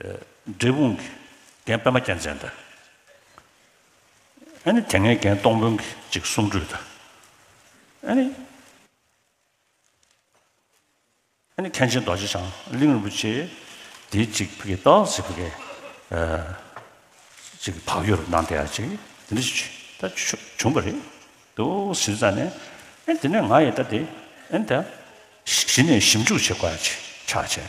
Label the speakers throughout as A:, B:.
A: འབྲས་སྤུངས་ཀྱི་རྒན་པདྨ་རྒྱལ་མཚན་དང། ཨ་ནི་དེ་སྔའི་རྒན་སྟོང་དཔོན་གྱི་གཅིག་གསུང་སྒྲོས་དང། ཨ་ནི། ཨ་ནི་མཁན་ཆེན་རྡོ་རྗེ་འཆང་གླིང་རིན་པོ་ཆེ་དེའི་གཅིག་ཕི་གེ་ཏའོ་ཟེར་ཕི་གེ། གཅིག་བག་ཡོད་རུ་ནང་དེ་ཡང་གཅིག་དེ་འདྲ་ཞིག་ད་བྱུང་བ་རེད་འདུག་ཟེར་ཙང་ནས་ཨ་དེ་ནས་ང་ཡི་ད་དེ་ཨ་ནི་ད་གཞི་ནས་ཞིབ་འཇུག་བྱེད་དགོས་ཡ་ཆགས་བྱས།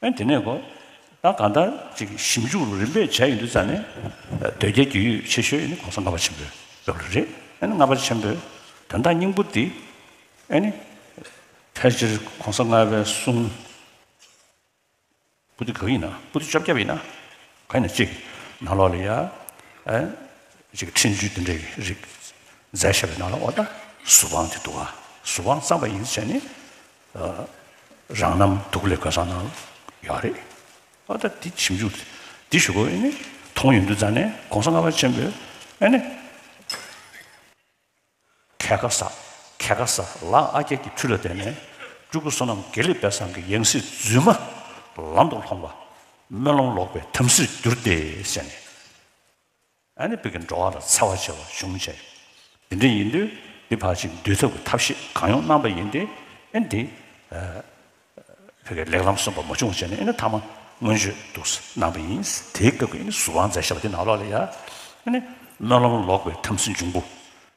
A: ཨེ་དེ་ནས་གོ། ད་གང་ལྟར་ཅིག་ཞིབ་འཇུག་རུ་རིམ་པས་བྱས་ཡོད་འདུག་ཙང་ནས། འདོད་རྒྱལ་རྒྱུས་ཡོད་ཆེ་ཤོས་ནི་གོང་ས་ལྔ་པ་ཆེན་པོའི་དབྱོག་རིགས་རེད། ཨེ་ནི་ལྔ་པ་ཆེན་པོའི་དོན་དག་སྙིང་པོ་འདི། ཨེ་ནི། ཕལ་ཆེར་གོང་ས་ལྔ་པའི་གསུང། པུ་ཏུ་གོ་ཡིན་ན་པུ་ཏུ་བཅོ་བརྒྱད་པ་ཡིན་ན། གོ་ཡིན་ན་ཅིག་ནང་ལོགས་ལ་ཡ། ཨེ། ཅིག་ཁྲིད་འཇུས་འདི་འདྲའི་རིགས། མཛད་བཞག་པའི་ནང་ལ་འོ་ད། གཟུ་དབང་དེ་འདུག་ཨ། གཟུ་དབང་གཙང་པ་ཡིན་ཟེར་བྱས་ནི། རང་རྣམ་དུག་ལས་ག་ས་ན་ཡོད་རེད་ཨ་ད་དེ་ཞིབ་འཇུག་འདི་ཞུ་དགོས་ཨེ་མཐོང་ཡོད་འདུག་ད་ནས་གོང་ས་ལྔ་པ་ཆེན་པོས་ཨེ་ནས་ཁལ་ག་ས་ཁལ་ག་ས་ལགས་ཨ་རྒྱ་ཀྱི་ཁྲུས་ལ་བརྟེན་ནས་སྤྲུལ་སྐུ་བསོད་ནམས་དགེ་ལེགས་དཔལ་བཟང་གི་ཡང་སྲིད་རྫུན་མ་ལམ་དུ་ལྷོངས་པ་སྨོན་ལམ་ལོག་པའི་དམ་སྲིར་གྱུར་ཏེ་ཟེར་ནས། ཨ་ནི་བོད་ཀྱི་འགྲོ་བ་ལ་འཚེ་བ་བྱེད་པ་གཞུང་བྱས་ཡོད། དེ་འདྲ་ཡིན་དུས་འདི་ཕར་ཕྱིན་བསྡུས་ཚབ་ཀྱི་ཐབས་ཤེས་གང་ཡོང་གནང་པ་ཡིན་ཏེ། ཨེ་འདི། བོད་ཀྱི་ལེགས་ལམ་གསུམ་པ་མ་བྱུང་བ་བྱས་ནས་ཨེ་ནི་ཐ་མ་སྔོན་བརྗོད་འདུག་ཟེར་གནང་པ་ཡིན། དེའི་སྐབས་ཀྱི་ཨེ་ནི་གཟུ་དབང་མཛད་བྱས་པ་དེ་ནང་ལོགས་ལ་ཡ། ཨེ་ནི་སྨོན་ལམ་ལོག་པའི་དམ་སྲི་འབྱུང་པོ།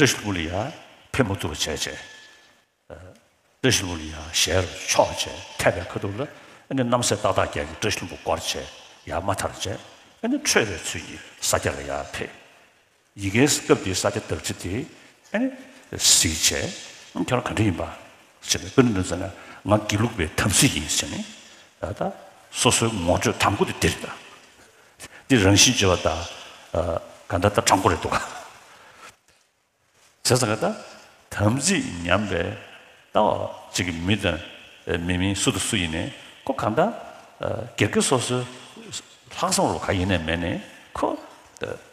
A: བཀྲ་ཤིས་མུ་ལི་ཡ་ཕེབས་མུ་ཏུ་བ་བྱས་བྱས། བཀྲ་ཤིས་མུ་ལི་ཡ་ཞལ་རུ་ཕྱོགས་བྱས་མཁས་པའི་ཁ་ཐུག་ལ། ཨཱ་ནི་རྣམ་སྲས་ཏག་ཏག་རྒྱལ་གྱི་བཀྲ་ཤིས་ལྷུན་པོ་སྐོར་བྱས་ཡར་མ་ཐར་བྱས། ཨཱ་ནི་ཁྲོས་པའི་ཚུལ་གྱིས་ས་སྐྱ་ལ་ཡར་ཕེབས། ཡི་གེའི་སྐབས་འདིའི་ས་སྐྱ་བདག་ཁྲི་དེ། ཨཱ་ནི། གཟིགས་བྱས། ཁྱོད་རང་ག་འདྲ་ཡིན་པ། བྱས་ནས་ཀུན་ནས་བཙལ་ན་ང་དགེ་ལུགས་པའི་དམ་ཚིག་ཡིན་ཟེར་ནས། ད་ལྟ། སོ་སོའི་ངོ་སྤྲོད་དང་པོ་དེ་འདི་རེད། འདི་རང་བཞིན་བརྗོད་པ་དང། ག་འདྲ་ལྟ་དྲང་པོ་རེད་འདུག་ག། བྱས་ཙང་ག་ད། དམ་ཚིག་ཉམས་པའི་ལྟ་བ་ཅིག་གིས་མི་དང། མི་མིན་སུ་དང་སུ་ཡིན་ནས་ཁོ་ག་འདྲ། སྒེར་སྒེར་སོ་སོའི། ལྷག་བསམ་རུ་ག་ཡིན་ནས་མེད་ནས་ཁོ།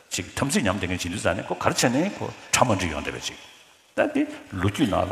A: ཅིག་དམ་ཚིག་ཉམས་དེ་ངས་བྱིན་དུས་ཙང་ནས་ཁོ་གར་བྱས་ནས་ཁོ་གྲ་མ་འགྲིག་ཡོང་འདྲ་བའི་ཅིག། ད་འདི་ལོ་རྒྱུས་ནང་ལ།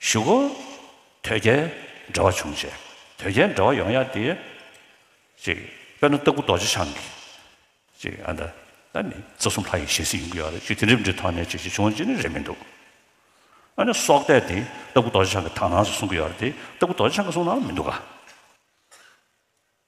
A: བཞུགས་སྒོ། དོལ་རྒྱལ་འདྲ་བ་བྱུང་བྱས། དོལ་རྒྱལ་འདྲ་བ་ཡོང་ཡག་དེ། ཅེས། དཔེར་ན་སྟག་སྐུ་རྡོ་རྗེ་འཆང་གི། ཅེས་ཨ་མདའ། ད་ནི་རྩ་གསུམ་ལྷ་ཡི་ཞལ་གཟིགས་ཡིན་དགོས་ཡག་རེད་ཅེས་དེ་འདྲའི་འབྲི་ཐང་ནས་ཅེས་ཅེས་བྱུང་བ་ཅི་ནི་རེད་མི་འདུག། ཨ་ནི་སྲོག་གཏད་དེ་སྟག་སྐུ་རྡོ་རྗེ་འཆང་གི་དང་ནང་སུ་གསུང་གི་ཡག་རེད་དེ་སྟག་སྐུ་རྡོ་རྗེ་འཆང་གི་གསུང་ནང་ལ་མི་འདུག་ག།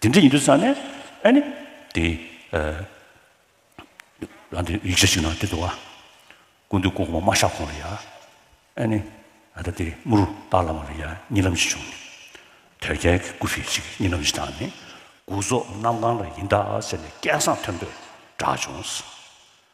A: དེ་འདྲ་ཡིན་དུས་ས་ནས་ཨ་ནི་དེ་རང་དེ་ཡིག་ཆ་ཞིག་ནང་དེ་འདུག་ཨ་ཀུན་འདུས་ཀོང་མོ་མ་ཤག་ཁོང་ལ་ཡ་ཨ་ནི་ཨ་ད་དེ་མུ་རུ་སྟག་ལ་མ་ལ་ཡ་གཉིས་ལམ་ཞིག་བྱུང་དོལ་རྒྱལ་གྱི་སྐུ་ཕི་ཞིག་གཉིས་ལམ་ཞིག་དང་ནི་དགུ་རྫོགས་གནམ་གང་ལ་ཡིན་ད་ཟེར་ནས་སྐད་གསང་མཐོན་པོས་བསྒྲགས་བྱུང།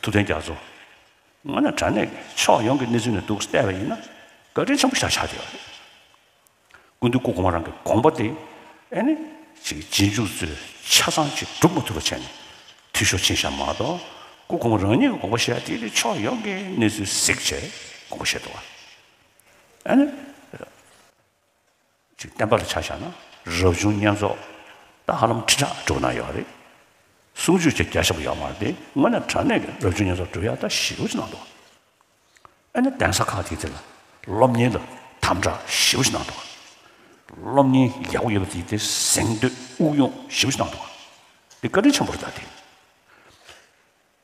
A: ཐུབ་བསྟན་རྒྱ་མཚོ། ང་ནི་དྲ་གནས་ཕྱོགས་ཡོངས་ཀྱི་གནས་ཚུལ་ནས་འདུག་བལྟས་པ་ཡིན་ན་བཀའ་དྲིན་ཆེན་པོ་ཞག་ཆགས་བསྡད་པ་རེད། ཀུན་ཏུ་སྐུ་གོང་མ་རང་གི་དགོངས་པ་དེ་ཨེ་ནི་ཅིག་རྗེས་འཇུག་ཚོས་ཆ་ཚང་ཅིག་སྒྲུབ་མ་ཐུབ་པ་བྱས་ནས་འཐུས་ཤོར་ཕྱིན་བཞག་མ་གཏོགས་སྐུ་གོང་མ་རང་ཉིད་ཀྱི་དགོངས་པ་བཞེས་དེ་ནི་ཕྱོགས་ཡོངས་ཀྱི་གནས་ཚུལ་གཟིགས་བྱས་དགོངས་པ་བཞེས་འདུག་བ་ཨེ་ནི། ཅིག་བསྟན་པ་ལ་ཆ་བཞག་ན་རབ་བྱུང་བསྙེན་རྫོགས་ད་ཧ་ལམ་ཁྲི་ཕྲག་དྲུག་ན་ཡོད་རེད། སུམ་ཅུ་ཆ་བརྒྱ་ཞེས་པ་ཡོག་མ་རེད་དེ་དངོས་གནས་དྲ་གནས་ཀྱི་རབ་བྱུང་བསྙེན་རྫོགས་གྲུབ་ཡ་ད་བཞི་བོ་ཅི་ན་འདུག་ཨ་ནི་གདན་ས་ཁག་དེ་དེ་ལ་སློབ་གཉེར་ལ་དམ་དྲག་བཞི་བོ་ཅི་ན་འདུག་སློབ་གཉེར་རྒྱག་པོ་ཡོད་པ་དེ་དེ་གཟེངས་བསྟོད་དབུགས་དབྱུང་བཞི་བོ་ཅི་ན་འདུག་དེ་བཀའ་དྲིན་ཆེན་པོ་རེད་ད་དེ་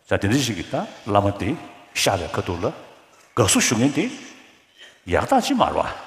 A: ད་དེ་འདྲ་ཞིག་གིས་ད་བླ་མ་དེ་ཤ་བའི་ཁ་ཐུག་ལ་དགའ་བསུ་ཞུ་མཁན་དེ་ཡག་རྟགས་ཅི་མ་རེད་བ།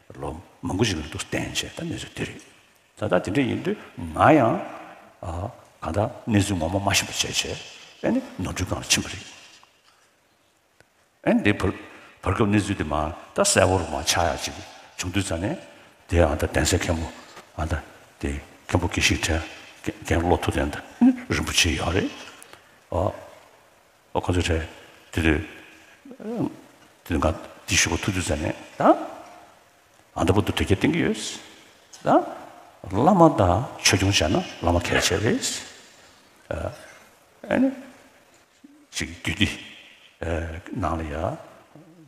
A: ལོ་མང་པོ་ཞིག་གི་རིང་དུ་བརྟེན་བྱས་ད་གནས་ཚུལ་དེ་རེད། ད་ལྟ་དེ་འདྲ་ཡིན་དུས་ང་ཡང་གང་ལྟར་གནས་ཚུལ་ངོ་མ་མ་ཤེས་པ་བྱས་བྱས་ཨེ་ནི་ནོར་འཁྲུལ་གང་ཕྱིན་པ་རེད། ཨེ་འདི་བར་སྐབས་གནས་ཚུལ་དེ་མ་ད་གསལ་བོར་མ་ཆགས་ཡག་ཅིག་བྱུང་དུས་ཚ་ནས་དེ་ཨང་ད་གདན་སའི་མཁན་པོ་ཨང་ད་དེ་མཁན་པོ་དགེ་བཤེས་དྲན་རྒན་བློ་ཐུབ་ལེན་ད་ཨེ་ནི་རིན་པོ་ཆེ་ཡག་རེད། ཨོ་ཁོ་ཚོ་རེད། དེ་དུས། དེ་དུས་ང་འདི་བཞུགས་པ་ཐུགས་རྒྱུས་མཛད་ནས་ད། ཨ་མདོ་པོ་འདུག་དོལ་རྒྱལ་བསྟེན་གྱི་ཡོད། ད། བླ་མ་ད་ཆོས་སྐྱོང་བྱས་ན་བླ་མ་གལ་ཆེ་རེད། ཨ། ཨ་ནི། ཅིག་རྒྱུད་འདི། ནང་ལ་ཡ།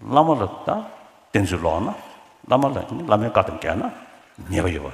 A: བླ་མ་ལ་ད་བསྟེན་ཚུལ་ལོག་ན། བླ་མ་ལ་ནི་བླ་མའི་བཀའ་དང་འགལ་ན་ཉེས་པ་ཡོད་པ།